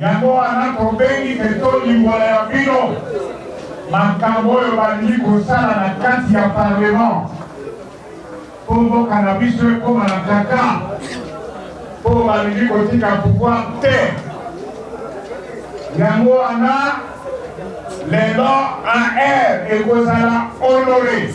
yango wana tobengi te tolimbola ya bino makambo oyo balingi kosala na kati ya parlement mpo mboka na biso ekóma na kaka mpo balingi kotika pouvoir te yango wana lelo ar ekozala honore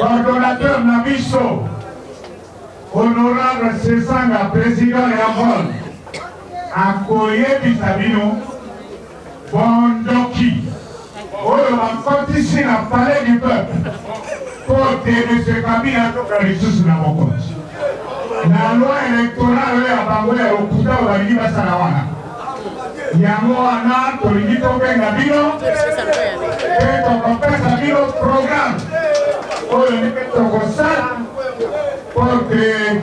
coordonnateur na biso honorable sesanga président ya vol akoyebisa bino Bondoki oyo bakotisi na palais du peuple mpo denise kabila atoka lisusu na mokonzi na loi electorale oyo ya bango ya lokuta oyo balingi basala wana yango wana tolingi tobenga bino mpe tokopesa bino programe oyo ndenge tokosala mpo te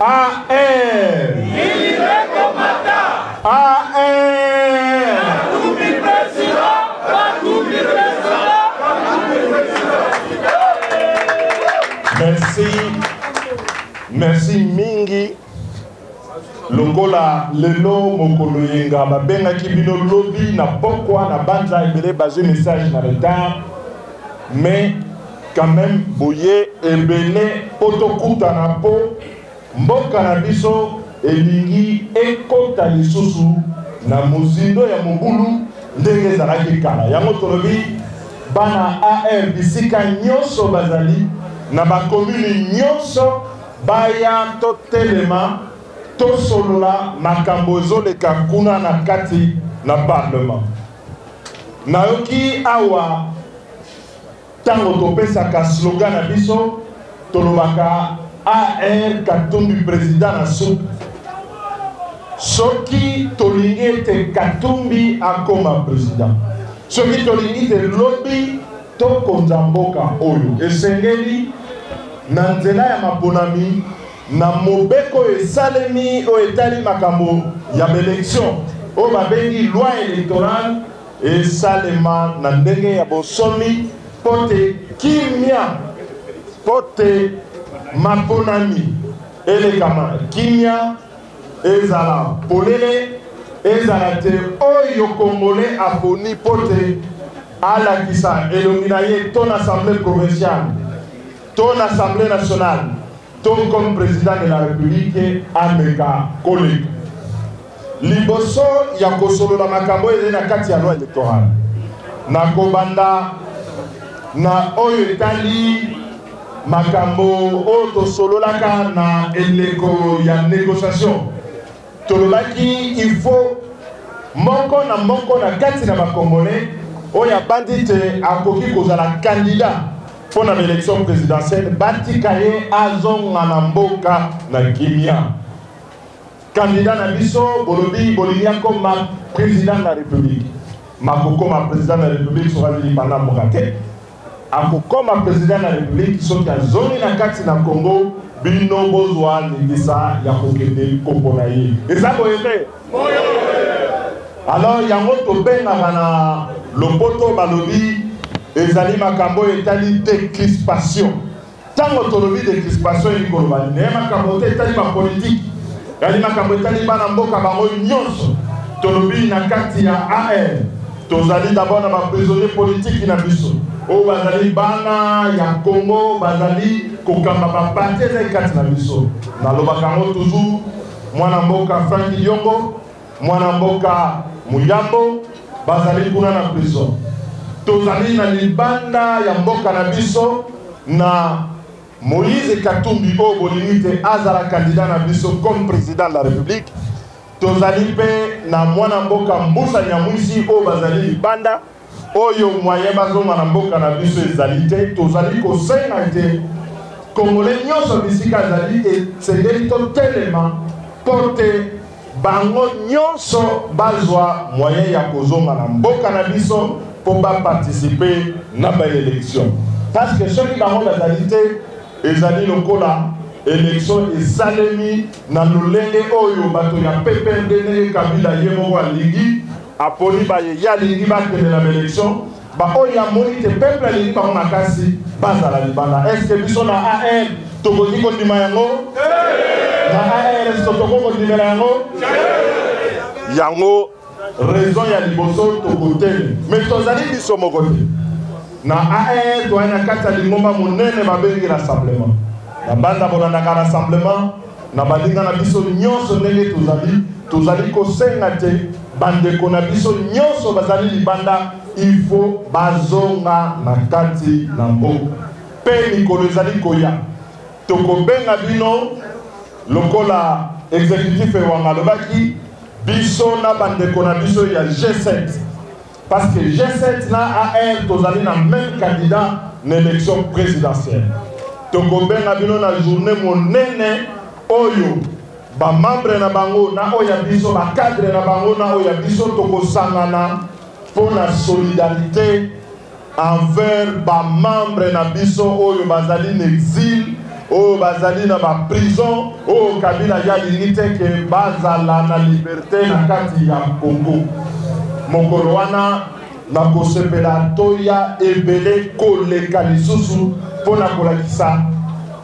AR. Libeko mata. AR. Katumbi president. Katumbi president. Merci. Merci mingi. longola lelo mokolo yenga babengaki bino lobi na pokwa na banza ebele bazwi message na retard mais quand même boye ebele po tokutana po mboka na biso elingi ekota lisusu na mozindo ya mobulu ndenge ezalaki kala yango tolobi bana ar bisika nyonso bazali na bakomini nyonso baya totelema tosolola makambo ezoleka kuna na kati na parlement nayoki awa ntango topesaka slogan na biso tolobaka ar katumbi president na suka soki tolingi ete katumbi akoma president soki tolingi te lobi tokonza mboka oyo esengeli na nzela ya maponami Na mobeko oyo esalemi oyo etali makambo ya ba elections oyo babengi loi electorale esalema na ndenge ya bonsomi mpo te kimya mpo te maponami elekama kimya ezala polele ezala te oyo kongole aponi mpo te alakisa elongi na ye to na assemblée provinciale to na assemblee nationale to comme president de la republique ameka koleka liboso ya kosolola makambo ezali na kati ya loi electorale na kobanda na oyo etali makambo oyo tosololaka na eleko ya négociation Tolobaki il faut moko na moko na kati na bakongolais oyo abandi te akoki kozala candidat mpo na baélection présidentielle batika ye azonga na mboka na kimia candidat na biso bolobi bolingi akoma président de la république makokoma président de la république soki azili panda mboka te Akokoma president ya republique soki azongi na kati na Congo bino bozwa ndingisa ya kokende kopona ye eza boye te alors yango tobengaka na lopoto balobi ezali makambo oyo etali decrispation Tango tolobi de crispation elingi koloba nini? Eye makambo te etali ba politique, eyali makambo etali bana mboka bango nyonso. Tolobi na kati ya AR, tozali d'abord na ba prisonniers politiques na biso oyo bazali bana ya Congo, bazali kokamba ba partis ezali kati na biso. Nalobaka yango toujours, mwana mboka Franck Diongo, Mwana mboka Muyambo bazali kuna na prison. Tozali na libanda ya mboka na biso na Moïse Katumbi oyo bolingi te azala candidat na biso comme président de la République. Tozali mpe na mwana mboka Mbusa Nyamwisi oyo bazali libanda Oyo moyen bazonga na mboka na biso ezali te, tozali kosenga ete Congolais nyonso bisika azali esengeli totelema mpo te bango nyonso bazwa moyen ya kozonga na mboka na biso mpo baparticipe na baelection parce que soki bango bazali te ezali lokola election esalemi na lolenge oyo bato ya ppmd ndenge kabila ye moko alingi Aponi baye ye alingi bakende na baelection, baoyo ye amoni te peuple alingi bango makasi bazala libanda. Est ce que biso na AR tokoki kondima yango? Na AR est ce que tokoki kondimela yango? Yango raison ya liboso tokoteli, mais tozali biso moko te na AR toyai na kati ya lingomba monene babengi rassemblement. Na banda bolandaka rassemblement Na baninga na biso nyonso, ndenge tozali, tozali kosenga te bandeko na biso nyonso bazali libanda ifo bazonga na kati na mboka, mpe mikolo ezali koya tokobenga bino lokola executif ewanga alobaki biso na bandeko na biso ya G7 Parce que G7 na AR tozali na meme candidat na election presidentielle. Tokobenga bino na journée monene oyo ba membres na bango na oyo ya biso ba cadres na bango na oyo ya biso tokosangana mpo na solidarité envers ba membres na biso oyo bazali na exil oyo bazali na ba prison oyo kabila ya lingi te ke bazala na liberte na kati ya congo mokolo wana nakosepela toya ebele koleka lisusu mpo na kolakisa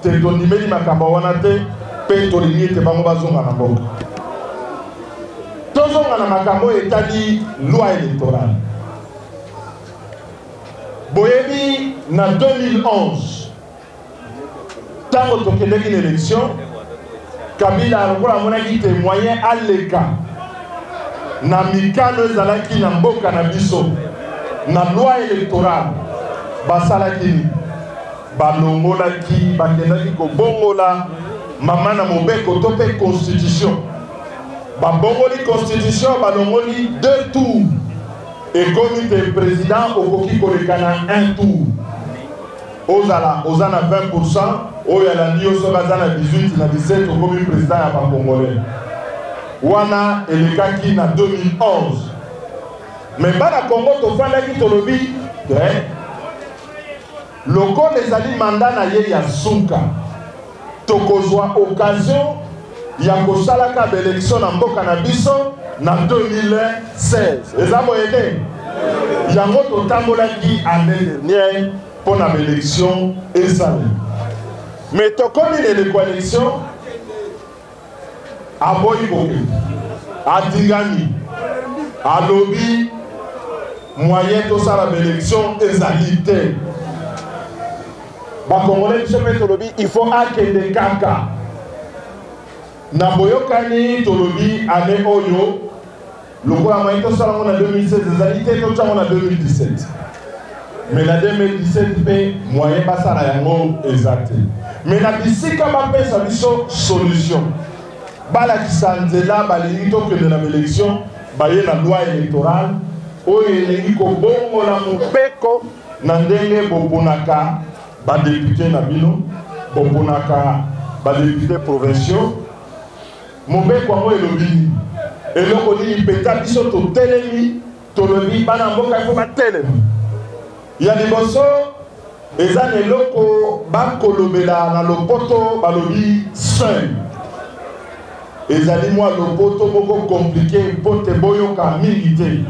te tondimeli makambo wana te mpe tolingi ete bango bazonga na mboka tozonga na makambo oyo etali loi electorale boyebi na 2011 ntango tokendeki na élection kabila lokola amonaki te moyen aleka na mikano ezalaki na mboka na biso na loi électorale basalaki nini balongolaki bakendaki kobongola mama na mobeko to mpe constitution babongoli constitution balongoli deux tours Ekomi te president okoki koleka na un tour. Ozala oza na 20% oyo alandi yo soki aza na 18 na 17 okomi president ya ba congolais. Wana elekaki na 2011. Mais bana Congo tofandaki tolobi te lokola ezali mandat na ye ya suka Tokozwa occasion ya kosalaka ba election na mboka na biso na 2016 eza boye te yango totambolaki année dernière mpo na baelection ezali mais tokomi na eleko election aboyi kokende atingami alobi moyen tosala baélection ezali te bakongole biso mpe tolobi il faut akende kaka na boyokani tolobi ane oyo lokola maye tosala yango na 2016 ezali te totya yango na 2017 me na 2017 mpe moyen basala yango eza te me na bisika bapesa biso solution balakisa nzela balingi tokende na baelection baye na loi électorale oyo elingi kobongola mobeko na ndenge boponaka badepute na bino boponaka badepute provinciaux Mobeko yango elobi nini? Eloko nini mpenza biso totelemi tolobi bana mboka ifo batelema? Ya liboso eza na eloko bakolobela na lopoto balobi seul ezali mwa lopoto moko komplike mpo te boyoka mingi te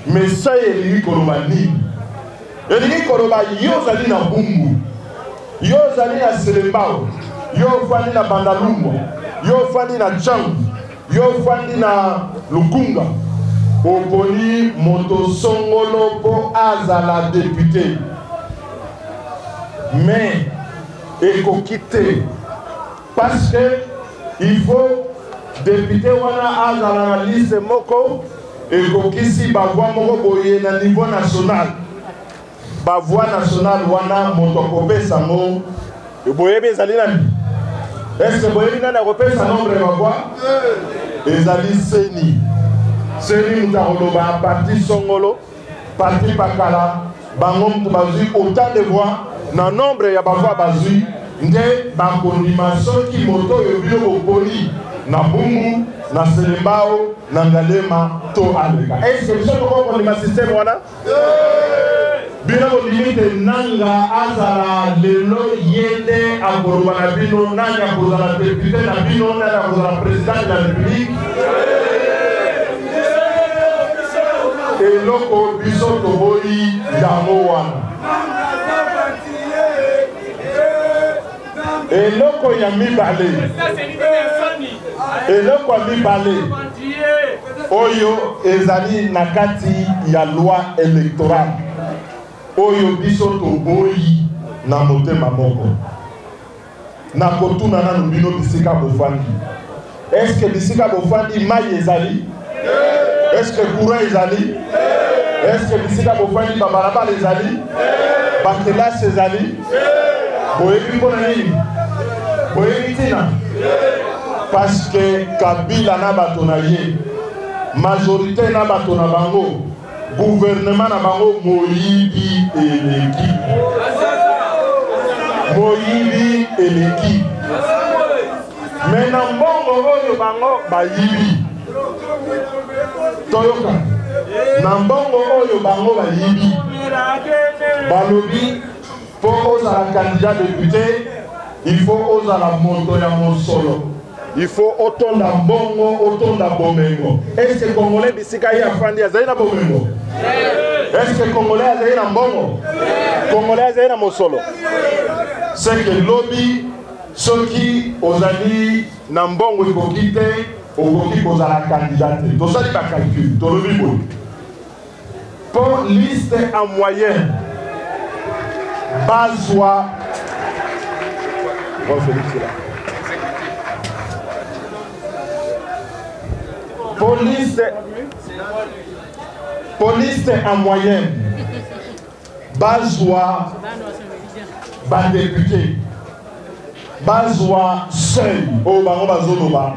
mesai elingi koloba nini elingi koloba yo ozali na bumbu Yo ozali na Selembao, yo ofandi na Bandalungwa, yo ofandi na Tshangu, yo ofandi na Lukunga, oponi moto songolo mpo azala depute mais ekoki te parce que il faut depute wana azala na liste moko ekokisi bavoi moko boye na niveau national Ba voix nationale wana moto akopesa ngo boyebi ezali nani? Est-ce que boyebi nani akopesa nombre ya ba voix? Ezali seni. Seni moto akoloba parti songolo, parti pakala, bango moto bazwi autant de voix na nombre ya ba voix bazwi nde bakondima soki moto oyo bino boponi na bungu na selembao na ngalema to aleka. Est-ce que biso tokokondima système wana? bino bondimi te nanga azala lelo ye nde akoloba na bino nani akozala depute na bino nani akozala president ya republike eloko biso toboyi yango wana eloko ya mibale eloko ya mibale oyo ezali na kati ya loi électorale oyo biso toboyi na motema moko nakotuna nanu bino bisika bofandi Est ce que bisika bofandi mai ezali? Est ce que courant ezali? Est ce que bisika bofandi babalabala ezali? Bakelasi ezali? Boyebi mpo na nini? Boyebi ntina? Parce que Kabila na bato na ye, majorité na bato na bango, gouvernement na bango moyibi eleki. Moyibi eleki. me na mbongo oyo bango bayibi toyoka na mbongo oyo bango bayibi balobi mpo ozala candidat depute il faut ozala moto ya mosolo il faut otonda mbongo otonda bomengo eske congolais bisika ye afandi azali na bomengo eske congolais azali na mbongo congolais azali na mosolo seke lobi Soki ozali na mbongo ekoki te, okoki kozala kandida te. Tosali bakalkule, tolobi boye mpo liste en moyenne bazwa mpo liste en moyenne bazwa badepute bazwa seuil oyo bango bazoloba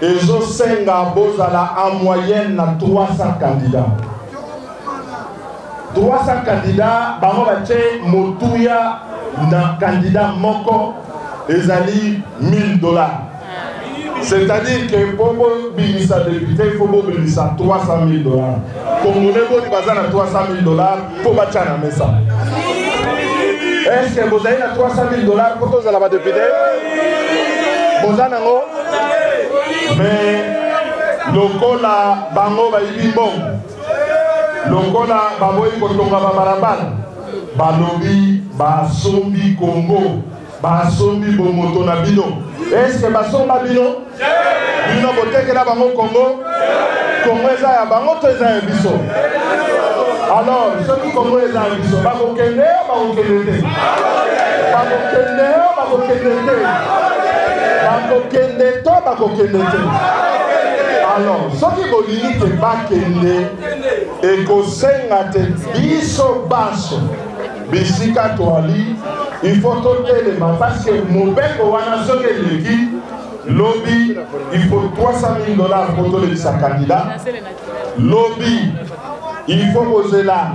ezosenga bozala en moyenne na 300 candidat 300 candidat bango batye motuya na candidat moko ezali 1000 dollars C'est-à-dire que pour bobimisa député, il faut bobimisa 300 000 dollars. Congolais boni baza na 300 000 dollars mpo batya na mesa. Est-ce que bozali na 300 000 dollars mpo tozala ba député? Boza nango? Mais lokola bango bayibi mbongo, lokola baboyi kotonga babalabala, balobi basombi Congo. Basombi bomoto na bino. Est-ce que basomba bino? Bino botekela bango Congo? Congo eza ya bango to eza ya biso? Alors, soki Congo eza ya biso, bakokende yo bakokende te. Bakokende yo bakokende te. Bakokende to bakokende te. Alors, soki bolingi te bakende ekosenga te biso banso bisika toali ifo totelema paske mobeko wana soki eleki lobi ifo 300 dollars mpo tolekisa kandida lobi ifo kozela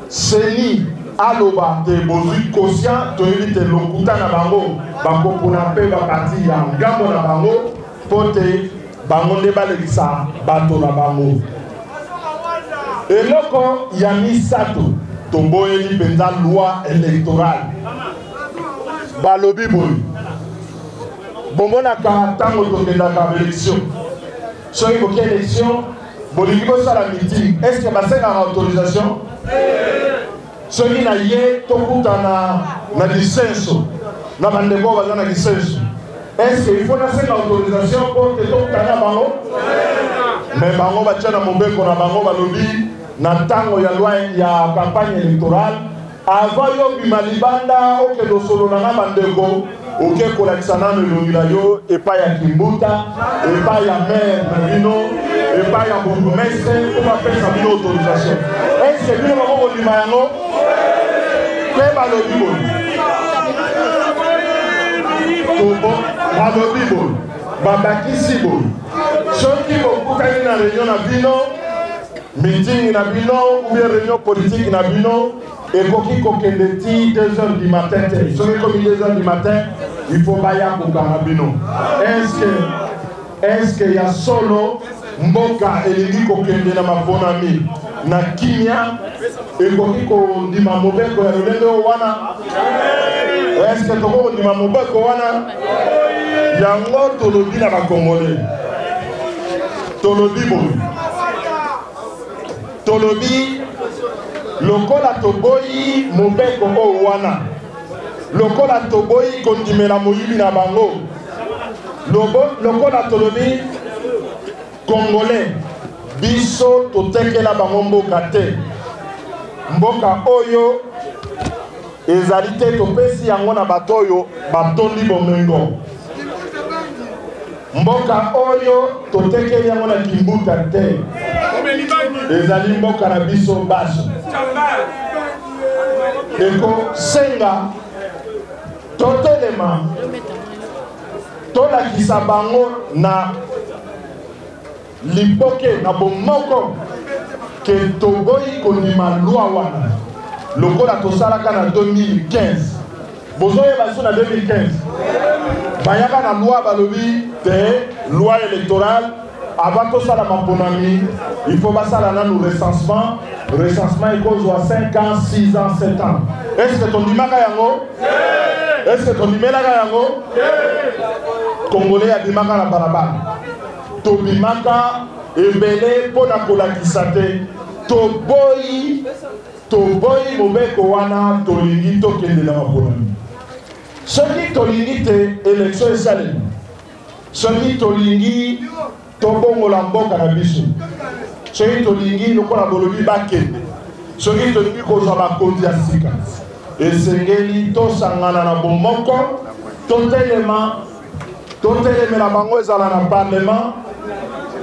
seni aloba te bozwi conscient toyebi te lokuta na bango bakopona mpe bapati ya ngambo na bango mpo te bango nde balekisa bato na bango eloko ya misato toboyeli mpenza loi électorale balobi boye bomonaka ntango tokendaka baélection soki koki élection bolingi bosala meeting est ce que basengaka autorisation soki na ye tokutana na lisenso na bandeko oyo baza na lisenso eske ifo nasenga autorisation mpo te tokutana bango me bango batya na mobeko na bango balobi na ntango ya loi ya campagne électorale avant yo bima libanda okende osolola na bandeko oke kolakisa nano elongi na yo epai ya kimbuta epai ya maire na bino epai ya bourgmestre mpo bapesa bino autorisation eske bino bako kondima yango mpe balobi boye balobi boye babakisi boye soki bokutani na reunion na bino mitingi na bino ubie reunion politiki na bino ekoki kokende ti 2 heures du matin te soki ekomi 2 heures du matin il faut baya kokanga bino eske eske ya solo mboka elingi kokende na maponami na kimia ekoki kondima mobeko ya lolenge oyo wana eske tokoki kondima mobeko wana yango tolobi na bakongole tolobi boye Tolobi lokola toboyi mobeko oyo wana, lokola toboyi kondimela moyibi na bango, lokola tolobi Congolais biso totekela bango mboka te, mboka oyo ezali te topesi yango na bato oyo batondi bomengo mboka oyo totekeli yango na kimbuta te ezali mboka na biso baso ekosenga totelema tolakisa bango na Liboke na bomoko ke toboyi kondima lwa wana lokola tosalaka na 2015 bozoyeba biso na 2015 bayaka na lwa balobi te loi électorale avant tosala maponami il faut basala nanu recensement recensement ekozwa 5 ans 6 ans 7 ans est ce que tondimaka yango est ce que tondimelaka yango congolais adimaka na balabala Tobimaka ebele mpo na kolakisa te toboyi toboyi mobeko wana tolingi tokende na maponami soki tolingi te elektio esalemi soki tolingi tobongola mboka na biso soki tolingi lokola bolobi bakende soki tolingi kozwa bakonzi ya sika esengeli tosangana na bomoko totelema totelemela bango ezala na parlement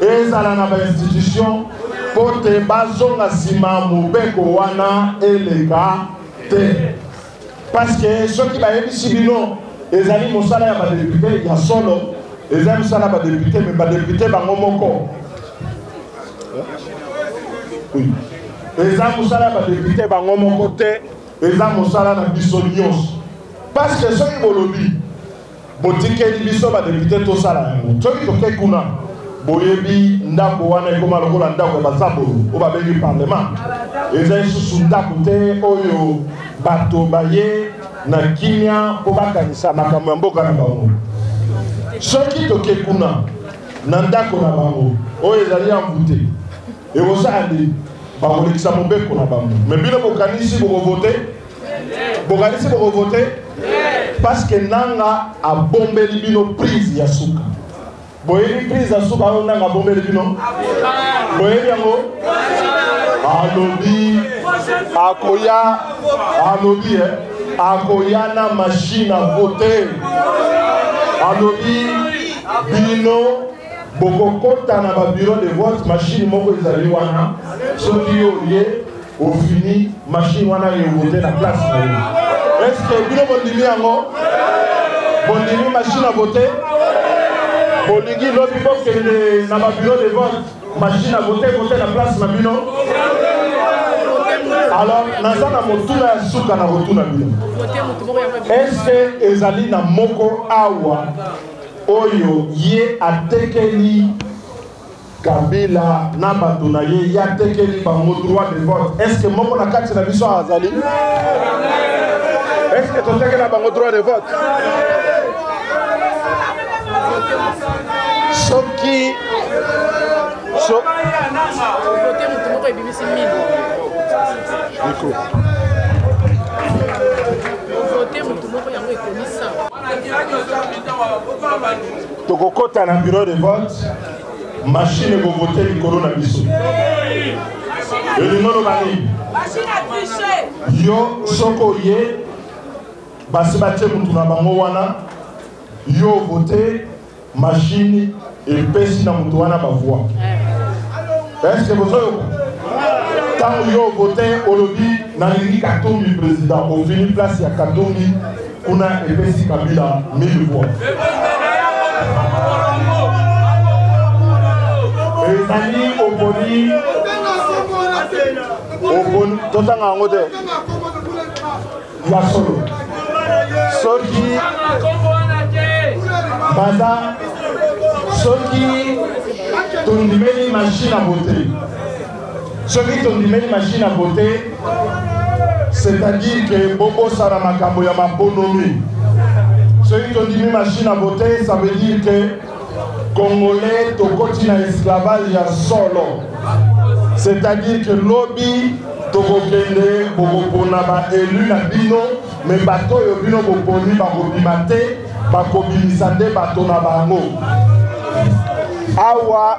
ezala na bainstitution mpo te bazonga nsima mobeko wana eleka te parceke soki bayebisi bino ezali mosala ya badepute ya solo ezali mosala ya badepute me badepute bango moko eza mosala ya badepute bango moko te eza mosala na biso nyonso parceke soki bolobi Botikeli biso ba depute tosala yango. Soki toke kuna boyebi ndako wana ekoma lokola ndako ya bazabolo oyo babengi parlement eza lisusu ndako te oyo bato baye na kimia mpo bakanisa makambo ya mboka na bango soki toke kuna na ndako na bango oyo ezali ya mvute ekosala nini bakolekisa mobeko na bango me bino bokanisi bokovote bokanisi bokovote parce que nanga abombeli bino prise ya suka boyebi prise ya suka oyo nanga abombeli bino boyebi yango alobi akoya alobi eh, akoya na machine a vote alobi bino bokokota na babureau de vote mashine moko ezali wana soki yo oye ofini mashine wana evote na place na yo eske bino bondimi yango bondimi mashine avote bolingi lobi bokende na babureau de vote mashine avote vote na place na bino alors naza na motuna ya suka na kotuna bino eske ezali na moko awa oyo ye atekeli kabila na bato na ye ye atekeli bango droit de vote est ce que moko na kati na biso azali est ce que totekela bango droit de vote soki so... Nico. tokokota na bureau de vote mashine ekovote likolo na biso elingo loba nini yo soki oye basi batye motu na bango wana yo ovote machine epesi na moto wana bavoi eske bozoyoka ntango yo vote olobi nalingi katumbi président ofini place ya katumbi kuna epesi kabila 1000 voix ezali oponi oponi totanga yango te ya solo soki baza soki tondimeli machine ya bote soki tondimeli machine ya bote c'est-à-dire ke bobosana makambo ya maponomi soki tondimi machine ya bote ça veut dire ke Congolais tokoti na esclavage ya solo, c'est-à-dire que lobi tokokende bokopona ba elu na bino, me bato oyo bino boponi bakobima te, bakobimisa nde bato na bango awa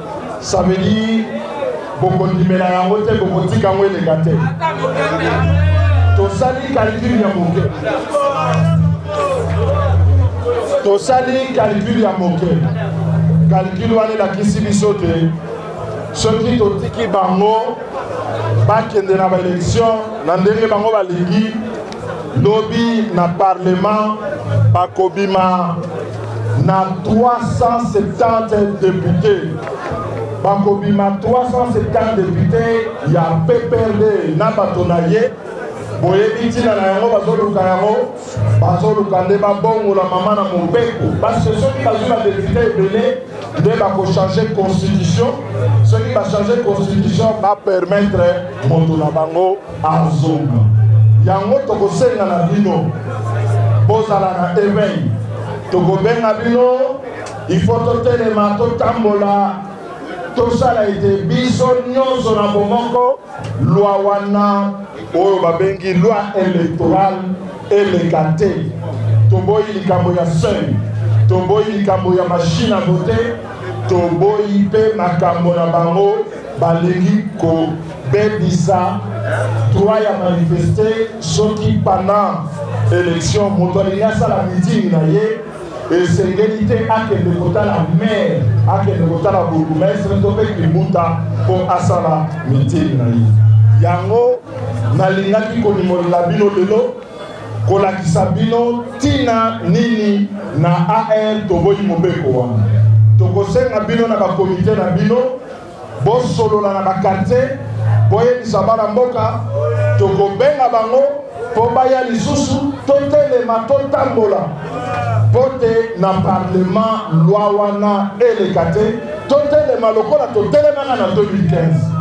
Ça veut dire bokondimela yango te bokotika yango eleka te tosali calcul ya moke tosali calcul ya moke calcul wana elakisi biso te soki totiki bango bakende na baelektio na ndenge bango balingi lobi na parlement bakobima na 370 depute bakobima 370 depute ya pprd na bato na ye boyebi ntina na yango bazoluka yango bazoluka nde babongola mama na mobeko parce que soki bazwi badepute ebele nde bakochange constitution soki bachange constitution bapermettre moto na bango Azonga. Yango tokosenga na bino bozala na eveil, tokobenga bino ifo totelema, totambola, tosala ete biso nyonso na bomoko lwa wana oyo babengi lwa electoral eleka te. Toboyi likambo ya seuil, toboyi likambo ya machine à voter, toboyi mpe makambo na bango. balingi kobebisa droit ya manifeste soki pendant élection moto alingi asala meeting na ye esengeli te akende kotala maire akende kotala bourgmestre to mpe kimbuta mpo asala meeting na ye yango nalingaki konimolela bino lelo kolakisa bino ntina nini na ar toboyi mobeko wana tokosenga bino na bakomite na bino Bosolola na ba quartiers, boyebisa bana mboka, tokobenga bango mpo baya lisusu, totelema, totambola mpo te na parlement loi wana eleka te, totelema lokola totelemaka na 2015.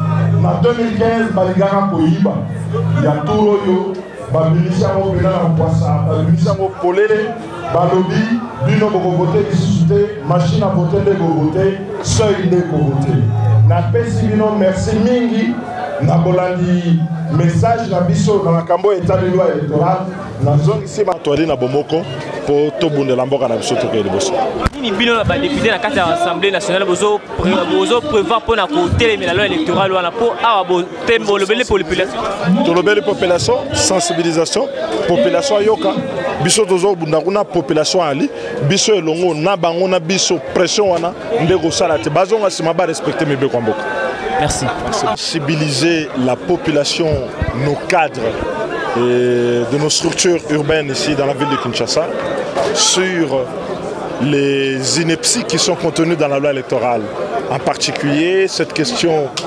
na 2015 balingaka koyiba ya tour oyo babimisi yango mpena na mpwasa babimisi yango polele balobi bino bokovote lisusu te machine a vote nde kovote seuil nde kovote napesi bino merci mingi na bolandi message na biso na makambo oyo etali loi électorale nazongisi bato ali na bomoko mpo tobundela mboka na biso tokei liboso nini bino na badepute na kati ya assemblée nationale bozo prevoir mpo na kotelemela loi électorale wana mpo awa mpe bolobeli population tolobeli population sensibilisation population ayoka biso tozobunda kuna population ali biso elongo na bango na biso pression wana nde kosala te bazonga nsima barespecte mibeko ya mboka merci sensibiliser la population nos cadres et de nos structures urbaines ici dans la ville de Kinshasa sur les inepties qui sont contenues dans la loi électorale en particulier cette question